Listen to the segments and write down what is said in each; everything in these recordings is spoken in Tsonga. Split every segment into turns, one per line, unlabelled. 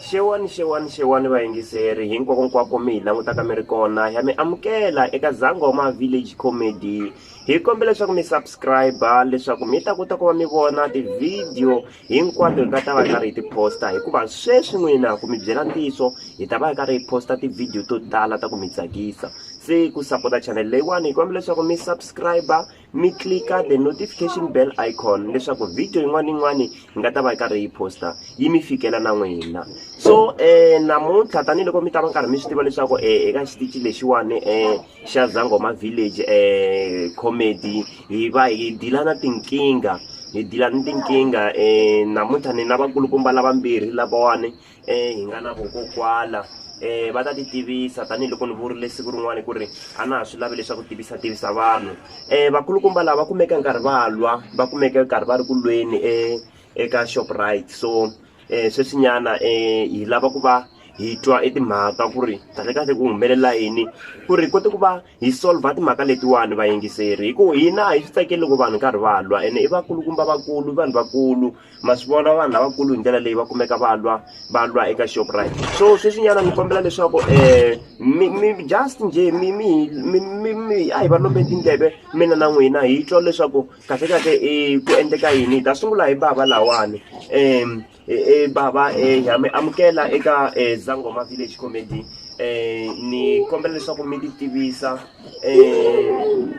Xewani xewani xewani vayingiseri hinkwako nkwako mi hi langutaka mi ri kona ya mi amukela eka Zangoma Village Comedy hi kombela leswaku mi subscribe leswaku mi ta kota ku va mi vona ti-video hinkwato hi nga ta va hi karhi hi ti-posta hikuva sweswi n'wina ku mi byela ntiyiso hi ta va hi karhi hi posta ti-video to tala ta ku mi tsakisa se ku sapota channel leyiwani hi kombela leswaku mi subscribe mi clika the notification bell icon leswaku video yin'wana yin'wani yi nga ta va yi karhi yi posta yi mi fikela na n'wina so um namuntlha tanihiloko mi ta va karhi mi swi tiva leswaku um eka xitici lexiwani um xa zangoma village um comedy hi va hi dila na tinkingha hi dila ni tinkingha um namuntlha ni na vakulukumba lavambirhi lavawani hi nga na vokokwala um va ta ti tivisa tanihiloko ni vurile siku rin'wana ku ri a na ha swi lavi leswaku tivisa tivisa vanhu um vakulukumba lava va kumeke nkarhi va lwa va kumeke nkarhi va ri ku lweni e, eka shoprite so um sweswinyana um hi lava ku va hi twa etimhaka ku ri kahlekahle ku humelela yini ku ri kote ku va hi solver timhaka letiwani vayingiseri hi ku hina hi swi tsakeli loko vanhu nkarhi va lwa ene i vakulukumba vakulu i vanhu vakulu ma swi vona vanhu lavakulu hi ndlela leyi va kumeka va lwa va lwa eka shoprite so sweswinyana ni kombela leswaku um mi mi just njhe mi mi mi mi mi a hi va lombe tindleve mina na n'wina hi twa leswaku kahle kahle i ku endleka yini hi ta sungula hi bava lawani um Eh, baba eh, ha mi amukela eka eh, zangoma village comedy eh, ni kombela leswaku mi ti tivisa eh,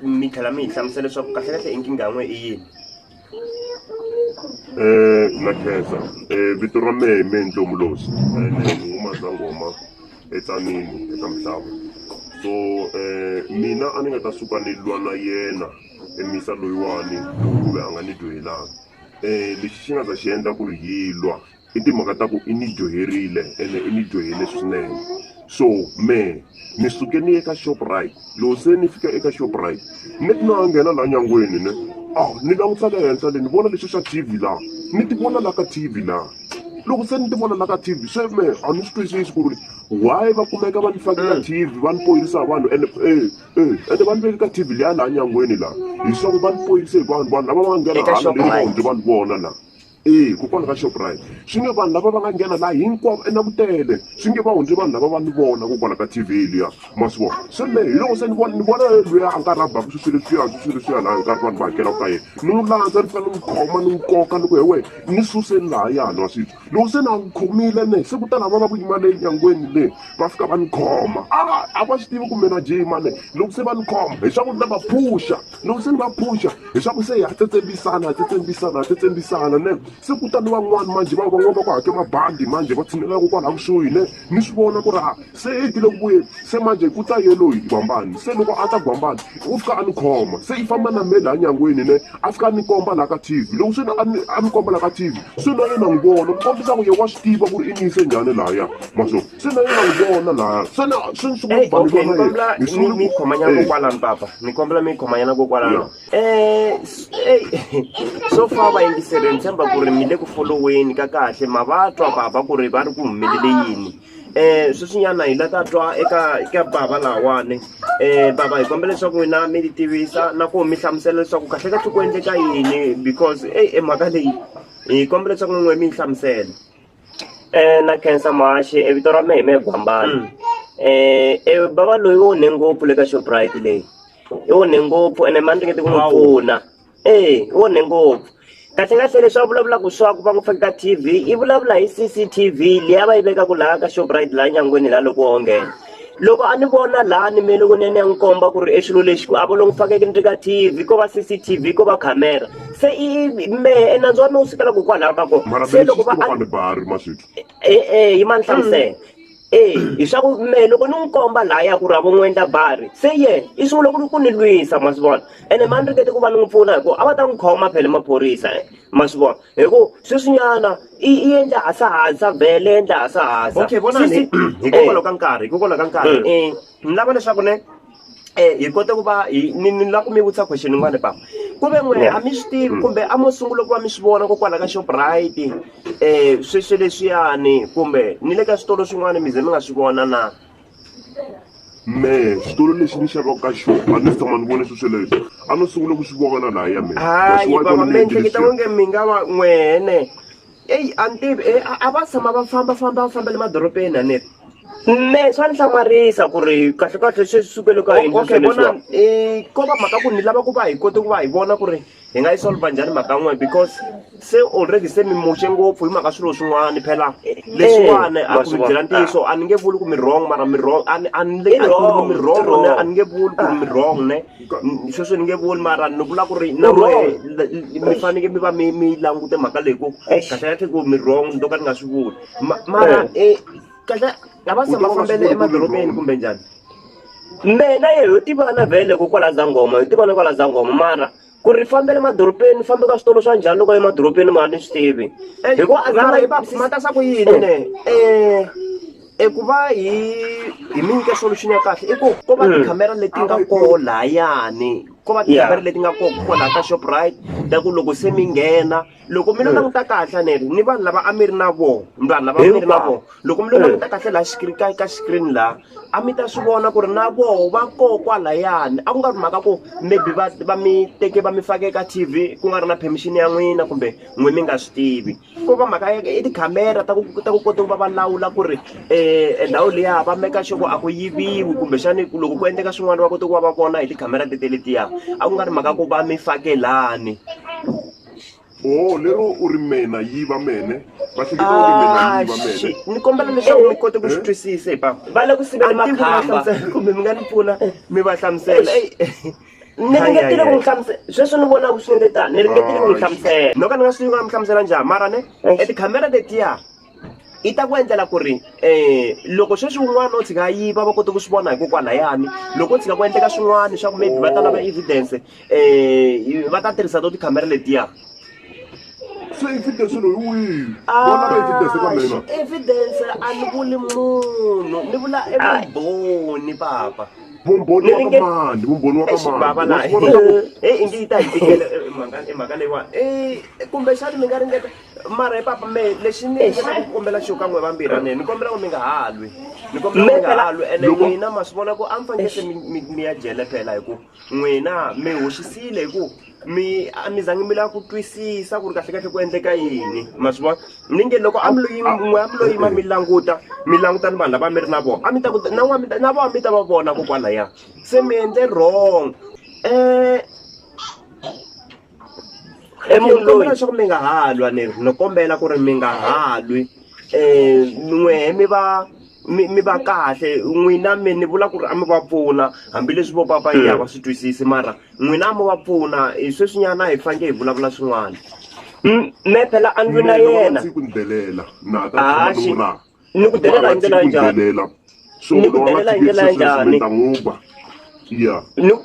mi tlhela mi hi hlamusela leswaku kahlekahle inkingha n'we i yini
Eh, na khensa Eh, vito ra mehe i mehe ntomolosi ene ni huma zangoma etsanini eka mhlava so eh, mina a ni nga ta suka ni lwa na yena emisa loyiwani kumbe a nga ni dyohelanga um lexi xi nga ta xi endla ku ri hi lwa i timhaka ta ku i ni dyoherile ene i ni dyohele swinene so mehe ni suke ni ye ka shoprite loko se ni fika eka shoprite ni ti na nghena laha nyangweni ne a ah, ni langutisa le henhla le ni vona lexi xa t v laha ni ti vona laha ka t v laha loko se ni ti vona la ka tv se me a ni swi twisisi ku ri why va kumeka va ni fakela tv va ni poyisa vanhu and e Eh, ende vanhu ve le ka TV leya laha nyangweni laha leswaku va ni poyise hi vanhu vanhu lava va nga nghena Eka hala leyi va Shoprite. hundze vanhu vona laha e kokwani ka shoprite swi nge vanhu lava va nga nghena laha hinkwavo enakutele swi nge va hundze vanhu lava va ni vona kokwala ka TV liya ma swi vona se me hi loko se ni vona ni vona eh, luya a nga rhabaka swi swi leswiya swi swi leswiya laha hi nkarhi vanhu va hakelaka ka yena ni n'wi landza ni fanele ni n'wi khoma ni n'wi koka ni ku he wena ni suseni laha yana wa switwi loko se na n'wi khomile ne se ku ta lava va ku yima le nyangweni le va fika va ni khoma a a va swi tivi kumbe na jima ne loko se va ni khoma hi swaku ni ta va phuxa loko se ni va phuxa hi swaku se ha tsetsembisana ha tsetsembisana ha tsetsembisana ne se kutani van'wani manjhe va van'wani va ku hake mabandi manjhe va tshinelelaku kwala kusuhi ne mi swi vona ku ri a se i tile ku vuyeni se manje ku ta yeloyi gwambani se loko a ta gwambani u fika a ni khoma se i famba na me laha nyangweni ne a fika a ni komba laha ka tv loko swi a ni a ni komba laha ka tv swi na yena n'wi vona ku kombisa ku ye wa swi tiva ku ri i ni yise njhani lahaya ma swo se na yena n'wi vona lahaya se na se ni sungula ku baniwa na yena ni sungula ku khomanyana
kokwalani papa ni kombela mi khomanyana kokwalani so far vayingiseri ni tshemba ku ri mi le ku foloweni ka kahle ma va twa bava ku ri va ri ku humelele yini um sweswinyana hi la ta twa eka eka bava lawani um bava hi kombela leswaku n'wina mi ti tivisa na ku mi hlamusela leswaku kahle kahle ku endleka yini because eyi e mhaka leyi hi kombela leswaku n'we mi yi hlamusela Eh,
na khensa mahaxi e vito ra mehe me gwambana Mm. eh e bava loyi wo ne ngopfu le ka shoprite leyi i wo ne ngopfu ene mani ringete ku n'wi Wow. pfuna e i wo ne ngopfu kahle kahle leswi a vulavulaka swaku va n'wi fake ka tv i vulavula hi cctv leyi a va yi vekaka laha ka shoprite laha nyangweni laha loko wo nghena loko a ni vona laha ni me loko ni ya ni ya n'wi komba ku ri e xilo lexi ku a vo loku fanekele ni ri ka T_V ko va C_C_T_V ko va camera se i mehe nandzu wa mina wu sukela ko kwalaho ka kona se loko va e-e yima ni hlamusela e hi swa ku mehe loko ni n'wi komba laha ya ku ri a vo n'wi endla bari se yena i sungule ku ku ni lwisa ma swi vona ene ma ni ringete ku va ni n'wi pfuna hi ku a va ta n'wi khoma phela maphorisa. ma swi vona hi ku sweswinyana i i endla hasahasa bele endla hasahasa okay vonani
hikokwalaho eh. ka nkarhi hikokwalaho ka nkarhi um eh. eh, ni lava leswaku ne um hi kota ku va hi ni ni lava ku mi vutisa question yin'wana papa ku ve n'we a mi swi tivi mm. kumbe a mo sungula ku va mi swi vona kokwala ka shoprite um sweswi leswiyani kumbe ni le ka switolo swin'wana mi ze mi nga swi vona na mehe
xitulu lexi ni xavaka ka xona a ni se tshama ni vone swi sweleswo a no sungula ku swi
vona
laha
ya mina
hayi baba
mi ehleketa
onge
mi nga
va n'wene
eyi a ni tivi e, a va tshama va famba famba va fambele madorobeni a ni ri me swa ni
hlamarisa ku ri kahlekahle swi sukele ka okay bona um
ko va mhaka ku ni lava ku va hi kote ku va hi vona ku ri hi nga yi solva njhani mhaka n'we because se already se mi muxe ngopfu hi mhaka swilo swin'wana phela leswiwani a ku mi byela ntiyiso a ni nge vuli ku mi wrong mara mi wrong a ni a ni le a ku mi wrong ne a ni nge vuli ku mi wrong ne sweswi ni nge vuli mara ni vula ku ri na we mi faneke mi va mi mi langute mhaka leyi ku kahle kahle ku mi wrong ni to ka ni nga swi vuli mara kahle a va se va fambele emadorobeni kumbe njhani mina
ye ho tivana vhele ko kwala zangoma hi tivana kwala zangoma mara ku ri fambele madorobeni fambe ka switolo swa njhani loko emadorobeni ma ni swi tivi eh, hikuva azanga yi
va pfumata swa ku yini ne eh, eh eku va hi hi mi nyika solution ya kahle i ku ko va tikhamera mm. leti nga koho layani ko va tikhamera leti nga koho kwalaha ka shoprite ta ku loko se mi nghena loko mi lo hmm. languta kahle neri ni vanhu lava a mi ri na vona vanhu lava mi ri na vona loko mi lo hmm. languta kahle laha xikiri ka ka xikirini laha a mi ta swi vona ku ri na voho va koho kwalayani a ku nga ri mhaka ku maybe va va mi teke va mi fake ka t v ku nga ri na permission ya n'wina kumbe n'we mi nga swi tivi ko va mhaka ya i tikhamera ta ku ta ku kota ku va va lawula ku ri um ndhawu liya va meka xoko a ku yiviwi kumbexani loko ku endleka swin'wana va kota ku va va vona hi tikhamera tete letiya a ku nga ri mhaka ku va mi fake lani oho
lero u ri mena yi va mene va hleketa u ri mena yi va mene Shit, ni kombela leswaku mi
kote ku swi twisisa hi papa va le ku sivela A ni tivi ku va
makhamba hlamusela, kumbe mi nga ni pfuna
mi va hlamusela Eyi.
ni ringetile ku n'wi hlamusela sweswi ni vonaka swi nge tani ni ringetile ku n'wi hlamusela no ka ni nga swi tivi ku nga mi
hlamusela njhani mara ne etikhamera letiya i ta ku endlela ku ri um loko sweswi un'wana o tshika yiva va kota ku swi vona hikokwalahayani loko o tshika ku endleka swin'wana swa ku maybe va ta lava evidence um va ta tirhisa to tikhamera letiya
evidence loyi wihi vona va evidence ka mina evidence a
ni vuli munhu ni vula evumbhoni papa vumbhoni wa ka
mani vumbhoni wa ka mani ingi
yi ta hi tikela mhaka leyiwani kumbe xani mi nga ringeta mara hi papa me lexi ni endlaka ku kombela xo ka n'we vambirhi ni ni kombela ku mi nga ha lwi ni kombela ku mi nga ha lwi ene n'wina ma swi vona ku a mi fanekele se mi ya jele phela hi ku n'wina mi hoxisile hi ku mi a mi zangi mi lava ku twisisa ku ri kahle kahle ku endleka yini ma swi vona ni nge loko a mi loyi n'we a mi loyi ma mi languta mi languta ni vanhu lava mi ri na vona a mi ta ku na n'wa na vona mi ta va vona kokwalaya se mi endle wrong um i munhu loyi leswaku mi nga ha lwa ni no kombela ku ri mi nga ha lwi um n'wehe mi va mi mi va kahle n'wina mi ni vula ku ri a mi va pfuna hambileswi vo papa yi ya va swi twisisi mara n'wina a mi va pfuna hi sweswinyana hi faneke hi vulavula swin'wana me
phela a ndzi na yena
a xi ni ku
delela hi ndlela njhani so ni ku
delela hi ndlela njhani ta n'wi ba ya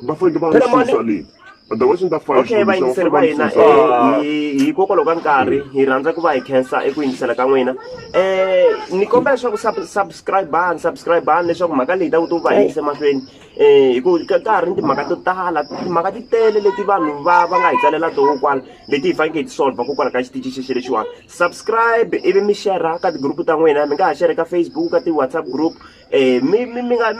va fanele va n'wi susa leyi otherwise ni ta fana okay
vayingiseri va hina hikokwalaho ka nkarhi hi rhandza ku va hi khensa eku yingisela ka n'wina um ni kombela leswaku subscribani subscribani leswaku mhaka leyi ta ku to va yingise mahlweni um hi ku ka ha ri ni timhaka to tala timhaka ti tele leti vanhu va va nga hi tsalela toho kwala leti hi fanekele hi ti solver kokwalaho ka xitichi xexi lexiwani subscribe ivi mi share ka tigroup ta n'wina mi nga ha share ka facebook ka ti-whatsapp group um mi mi mi nga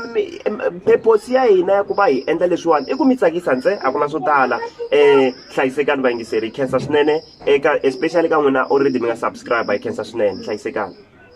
purpose ya hina ya ku va hi endla leswiwani i ku mi tsakisa ntse a ku na swo tala um hlayisekani vayingiseri hi khensa swinene eka especially ka n'wina already mi nga subscribe hi khensa swinene hlayisekani